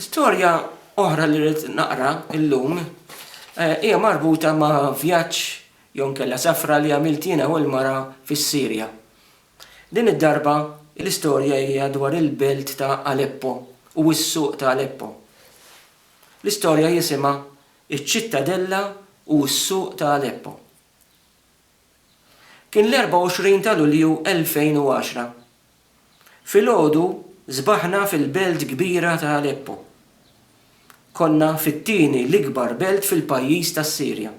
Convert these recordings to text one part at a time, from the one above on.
Storja oħra li rrid naqra illum eh, hija marbuta ma' vjaġġ jew nkella safra li għamilt jiena u l-mara fis-Sirja. Din id-darba l-istorja hija dwar il-belt ta' Aleppo u s-suq ta' Aleppo. L-istorja jisimha Iċ-Ċittadella u s-Suq ta' Aleppo. Kien l-24 ta' Lulju 2010 Filgħodu sbaħna fil-belt kbira ta' Aleppo. Konna fit-tieni l-ikbar belt fil-pajjiż tas-Sirja.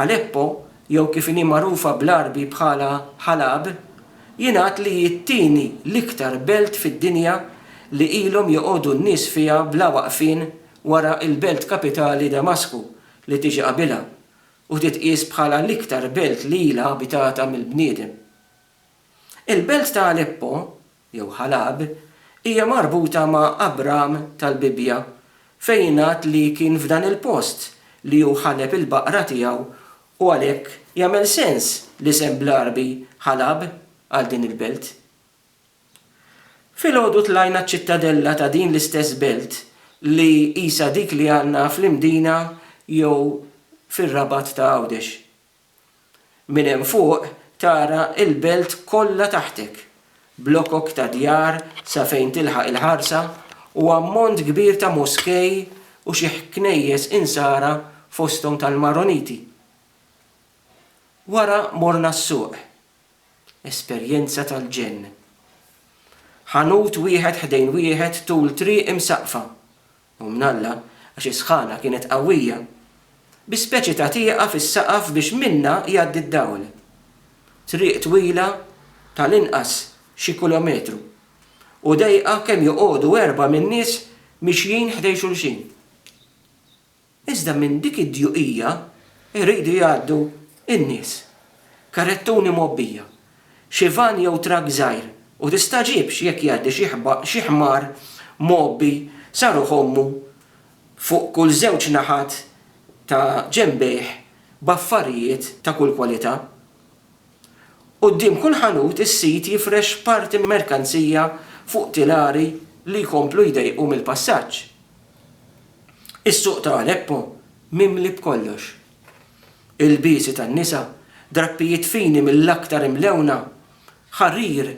Aleppo, jew kif inhi magħrufa bl-Għarbi bħala Ħalab, jingħad li hi t-tieni l-iktar belt fid-dinja li ilhom joqogħdu n-nies fiha bla waqfien wara l-belt kapitali Damasku li tiġi qabilha u titqies bħala l-iktar belt li ilha abitata mill-bniedem. Il-belt ta' Aleppo, jew Ħalab, hija marbuta ma' Abraham tal-Bibbja, fejn jingħad li kien f'dan il-post li hu ħaleb il-baqra tiegħu u għalhekk jagħmel sens l-isem bl-Għarbi Ħalab għal din il-belt. Filgħodu tlajna ċ-ċittadella ta' din l-istess belt li qisha dik li għandna fl-Imdina jew fir-Rabat ta' Għawdex. Minn hemm fuq tara l-belt kollha taħtek, blokok ta' djar sa fejn tilħaq il-ħarsa u ammont kbir ta' moskej u xi ħknejjes insara fosthom tal-Maroniti. Wara morna s-suq. Esperjenza tal-ġenn. Ħanut wieħed ħdejn wieħed tul triq imsaqqfa. u mnalla għax is-sħana kienet qawwija, bi speċi ta' tieqa fis-saqaf biex minnha jgħaddi d-dawl. Triq twila tal-inqas xi kulometru, u dejqa kemm joqogħdu erbgħa min-nies mixjin ħdejn xulxin. Iżda minn dik id-djuqija jridu jgħaddu n-nies, karrettuni mgħobbija xi vann jew trakk żgħir u tistagħġibx jekk jgħaddi xi xi ħmar mgħobbi sa ruħ ommu fuq kull żewġ naħat ta' ġenbejh b'affarijiet ta' kull kwalità. Quddiem kull ħanut is-sid jifrex parti merkanzija fuq tilari li jkomplu jdejqu mill-passaġġ. Is-suq ta' Aleppo mimli b'kollox. ilbiesi tan-nisa, drappijiet fini mill-aktar imlewna, ħarir,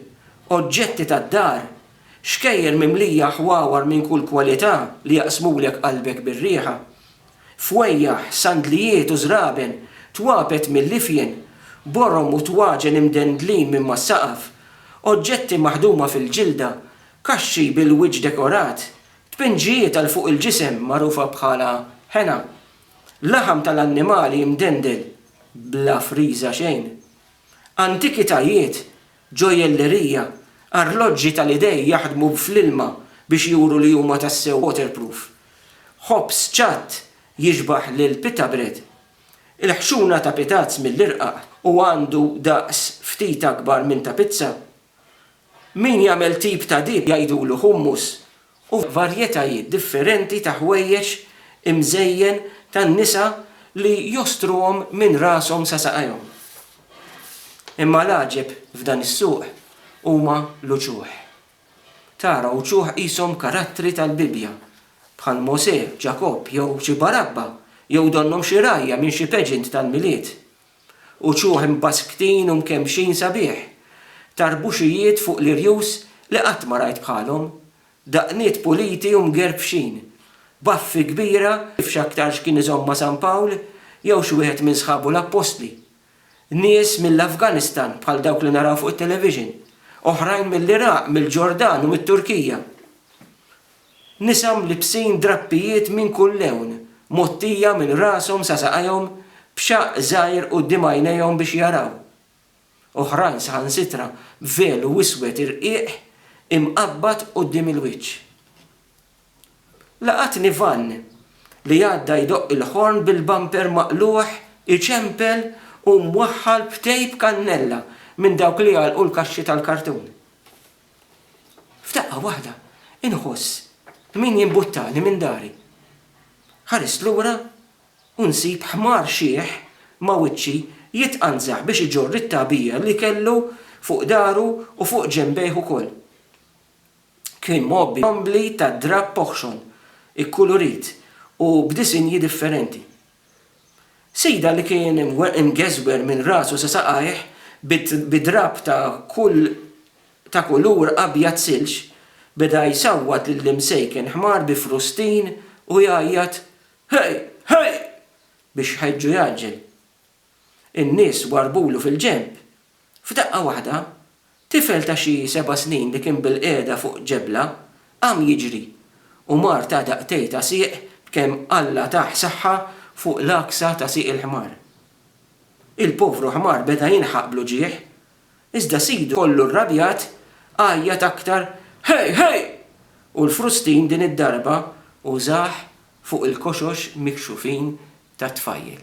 oġġetti tad-dar, xkejjer mimlija ħwawar minn kull kwalità li jaqsmulek qalbek bir-riħa, fwejjaħ, sandlijiet u żraben, twapet mill-ifjen, borom u twaġen imdendlin minn mas-saqaf, oġġetti maħduma fil-ġilda, kaxxi bil-wiċċ dekorat, tpinġijiet għal fuq il-ġisem magħrufa bħala ħena, Laħam tal-annimali imdendel bla friża xejn. Antikitajiet, ġojjellerija, arloġġi tal-idejn jaħdmu fl-ilma biex juru li huma tassew waterproof. Ħobż ċatt jixbaħ lil pita bread. Il-ħxuna ta' pitazz mill-irqaq u għandu daqs ftit akbar minn ta' pizza. Min jagħmel tip ta' dip jgħidulu hummus u varjetajiet differenti ta' ħwejjeġ imżejjen tan-nisa li jostruhom minn rashom sa saqajhom. Imma l-għaġeb f'dan is-suq huma l-uċuħ. Tara uċuħ qishom karattri tal-Bibbja, bħal Mosè, Ġakobb jew xi barabba, jew donnhom xi rgħajja minn xi pageant tal-Milied. uċuħ imbaskktin u mkemmxin sabiħ, tarbuxijiet fuq l-irjus li qatt ma rajt bħalhom, daqniet puliti u mgerrpxin, baffi kbira kif x'aktarx kien iżommha San Pawl jew xi wieħed minn sħabu l-appostli. Nies mill-Afganistan bħal dawk li naraw fuq it-television, oħrajn mill-Iraq, mill-Ġordan u mit-Turkija. Nisa mlibbsin drappijiet minn kull lewn, mgħottija minn rashom sa saqajhom b'xaqq żgħir quddiem għajnejhom biex jaraw. Oħrajn saħansitra b'velu iswed irqiq imqabbad quddiem il-wiċċ. Laqatni vann li għadda jdoqq il-ħorn bil-bumper maqlugħ iċempel u mwaħħal b'tejp kannella minn dawk li jagħlqu l-kaxxi tal-kartun. F'daqqa waħda inħoss min jimbuttani minn dari. Ħarist lura u nsib ħmar xiħ ma' wiċċi jitqanżaħ biex iġorr it-tagħbija li kellu fuq dahru u fuq ġenbejh ukoll. Kien mgħobbi b'għombli ta' drapp oħxon, ikkulurit u b'disinji differenti. Sejda li kien imgeżwer minn rasu sa saqajh bi drapp ta' kull ta' kulur abjad silġ, beda jsawwat lill-imsejken ħmar bi frustin u jgħajjat, Hey! Hey! biex jħeġġu jgħaġġel. In-nies warrbulu fil-ġenb. F'daqqa waħda, Tifel ta' xi seba' snin li kien bilqiegħda fuq ġebla qam jiġri u mar ta' daqtej ta' sieq b'kemm Alla tah saħħa fuq l-għaksa ta' sieq il-ħmar. Il-povru ħmar beda jinħaq bl-uġigħ, iżda sidu kollu rrabjat għajjat aktar Hej! Hej! u l-frustin din id-darba użah fuq il-koxox mikxufin tat-tfajjel.